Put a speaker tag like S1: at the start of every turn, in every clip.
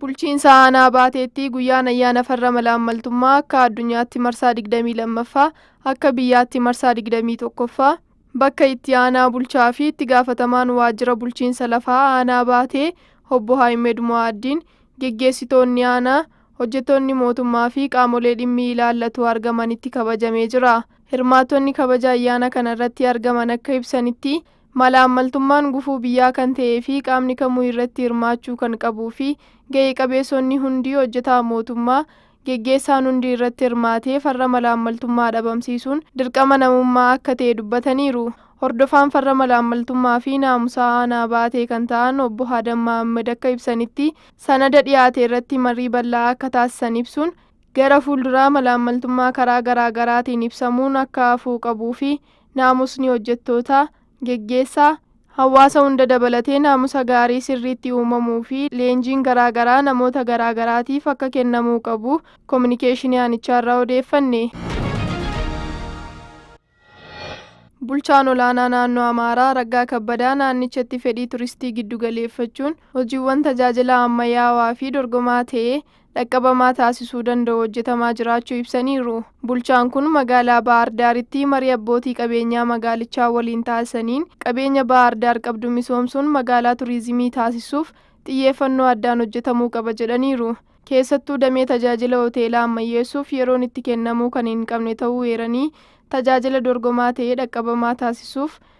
S1: Bulchiinsa Aanaa Baateetti guyyaan ayyaana farra malaammaltummaa akka addunyaatti marsaa 22ffaa, akka biyyaatti marsaa 21ffaa bakka itti aanaa bulchaa fi itti gaafatamaan waajjira bulchiinsa lafaa aanaa Baatee obbo Haayimed Mo'aaddiin, geggeessitoonni aanaa, hojjettoonni mootummaa fi qaamolee dhimmi ilaallatu argamanitti kabajamee jira. Hirmaattonni kabaja ayyaana kana irratti argaman akka ibsanitti, Malaammaltummaan gufuu biyyaa kan ta'ee fi qaamni kamuu irratti hirmaachuu kan qabuu fi ga'e qabeessonni hundi, hojjetaan mootummaa, geggeessaan hundi irratti hirmaatee farra malaammaltummaa dhabamsiisuun dirqama namummaa akka ta'e dubbataniiru. Hordofaan farra malaammaltummaa fi naamusaa aanaa Baatee kan ta'an obbo Haadam Mahammad akka ibsanitti, sanada dhiyaate irratti marii bal'aa akka taasisan ibsuun, gara fuulduraa malaammaltummaa karaa garaagaraatiin ibsamuun akka hafuu qabuu fi Naamusni hojjettootaa, geggeessaa, hawaasa hunda dabalatee naamusa gaarii sirriitti uumamuu fi leenjiin garaa garaa namoota garaa garaatiif akka kennamuu qabu kominikeeshinii aanichaarraa odeeffanne. Bulchaan Olaanaa Naannoo Amaaraa Raggaa Kabbadaa naannichatti fedhii turistii giddugaleeffachuun hojiiwwan tajaajilaa ammayyaawaa fi dorgomaa ta'e dhaqqabamaa taasisuu danda'u hojjetamaa jiraachuu ibsaniiru. Bulchaan kun magaalaa Baahar Daaritti marii abbootii qabeenyaa magaalichaa waliin taasisaniin qabeenya Baahar Daar qabdu misoomsuun magaalaa turiizimii taasisuuf xiyyeeffannoo addaan hojjetamuu qaba jedhaniiru. Keessattuu damee tajaajila hoteelaa ammayyeessuuf yeroon itti kennamuu kan hin qabne ta'uu eeranii, tajaajila dorgomaa ta'e dhaqqabamaa taasisuuf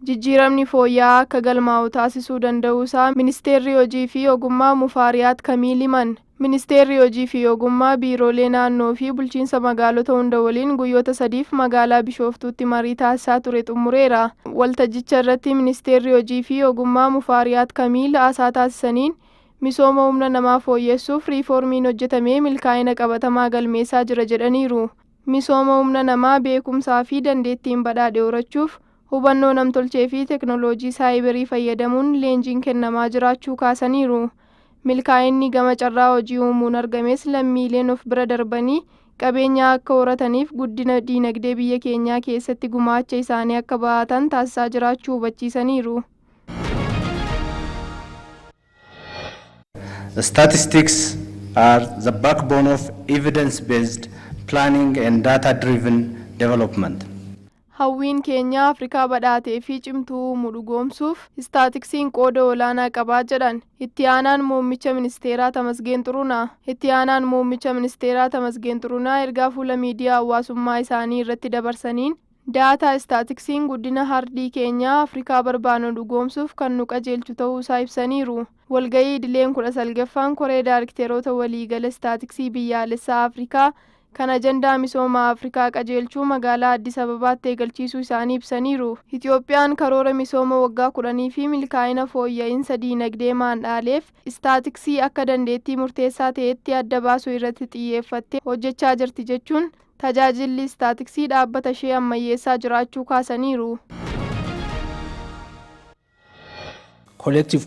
S1: jijjiiramni fooyya'aa akka galmaa'u taasisuu danda'uusaa Ministeerri Hojii fi Ogummaa Mufaariyaat Kamiil himan. Ministeerri Hojii fi Ogummaa biiroolee naannoo fi bulchiinsa magaalota hunda waliin guyyoota sadiif magaalaa Bishooftuutti marii taasisaa ture xumureera. Waltajjicha irratti Ministeerri Hojii fi Ogummaa Mufaariyaat Kamiil haasaa taasisaniin, misooma humna namaa fooyyessuuf riifoormiin hojjetamee milkaa'ina qabatamaa galmeessaa jira jedhaniiru. Misooma humna namaa beekumsaa fi dandeettiin badhaadhe horachuuf hubannoo namtolchee fi teknoloojii saayiberii fayyadamuun leenjiin kennamaa jiraachuu kaasaniiru. Milkaa'inni gama carraa hojii uumuun argames lammiileen of bira darbanii qabeenyaa akka horataniif guddina diinagdee biyya keenyaa keessatti gumaacha isaanii akka bahatan taasisaa jiraachuu hubachiisaniiru.
S2: Statistics are the backbone of evidence-based planning and data-driven development. Hawwiin
S1: keenya Afrikaa badhaatee fi cimtuu uumuu dhugoomsuuf istaatiksiin qooda olaanaa qaba jedhan Itti Aanaan Muummicha Ministeeraa Tamasgeen Xurunaa. Itti Aanaan Muummicha Ministeeraa Tamasgeen Xurunaa ergaa fuula miidiyaa hawaasummaa isaanii irratti dabarsaniin, Daataa istaatiksiin guddina hardii keenyaa Afrikaa barbaannu dhugoomsuuf kan nu qajeelchu ta'uu isaa ibsaniiru. Walga'ii idileen 19ffaan Koree Daarikteeroota Waliigala Istaatiksii Biyyaalessaa Afrikaa kan ajandaa misooma Afrikaa qajeelchuu magaalaa Addis Ababaatti eegalchiisuu isaanii ibsaniiru. Itiyoophiyaan karoora misooma waggaa kudhanii fi milkaa'ina fooyya'insa diinagdee maandhaaleef istaatiksii akka dandeettii murteessaa ta'etti adda baasuu irratti xiyyeeffattee hojjechaa jirti jechuun Tajaajilli Istaatiksii dhaabbata ishee ammayyeessaa jiraachuu kaasaniiru.
S3: collective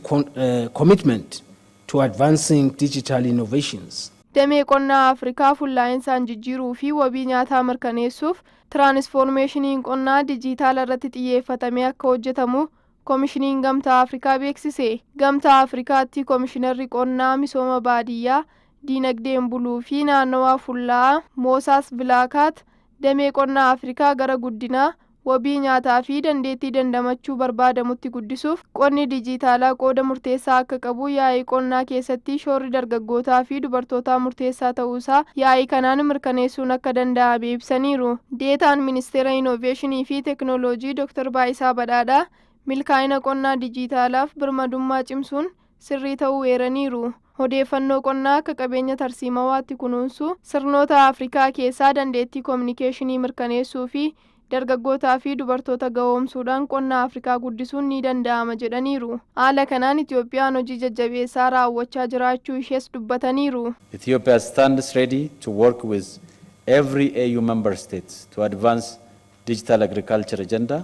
S3: commitment to advancing digital innovations. Damee qonnaa
S1: Afrikaa fullaa'insaan jijjiiruu fi wabii nyaataa mirkaneessuuf tiraanisfoormeeshiniin qonnaa dijiitaala irratti xiyyeeffatamee akka hojjetamu Komishiniin Gamtaa Afrikaa beeksise. Gamtaa Afrikaatti Komishinarri Qonnaa, Misooma Baadiyyaa, Diinagdeen Buluu fi Naannawaa Fullaa'aa Moosaas Vilaakaat Damee qonnaa Afrikaa gara guddinaa, wabii nyaataa fi dandeettii dandamachuu barbaadamutti guddisuuf qonni dijiitaalaa qooda murteessaa akka qabu yaa'ii qonnaa keessatti shoorri dargaggootaa fi dubartootaa murteessaa ta'uu isaa yaa'ii kanaan mirkaneessuun akka danda'ame ibsaniiru. Deetaan Ministeera Inooveeshinii fi Teknooloojii Dr. Baayisaa Badhaadhaa, milkaa'ina qonnaa dijiitaalaaf birmadummaa cimsuun sirrii ta'uu eeraniiru. Odeeffannoo qonnaa akka qabeenya tarsiimawaatti kunuunsuu, sirnoota Afrikaa keessaa dandeettii kominikeeshinii mirkaneessuu fi dargaggootaa fi dubartoota gahoomsuudhaan qonna Afrikaa guddisuun ni danda'ama jedhaniiru. Haala kanaan Itiyoophiyaan hojii jajjabeessaa raawwachaa jiraachuu ishees dubbataniiru. Ethiopia stands
S4: ready to work with every AU member state to advance digital agriculture agenda.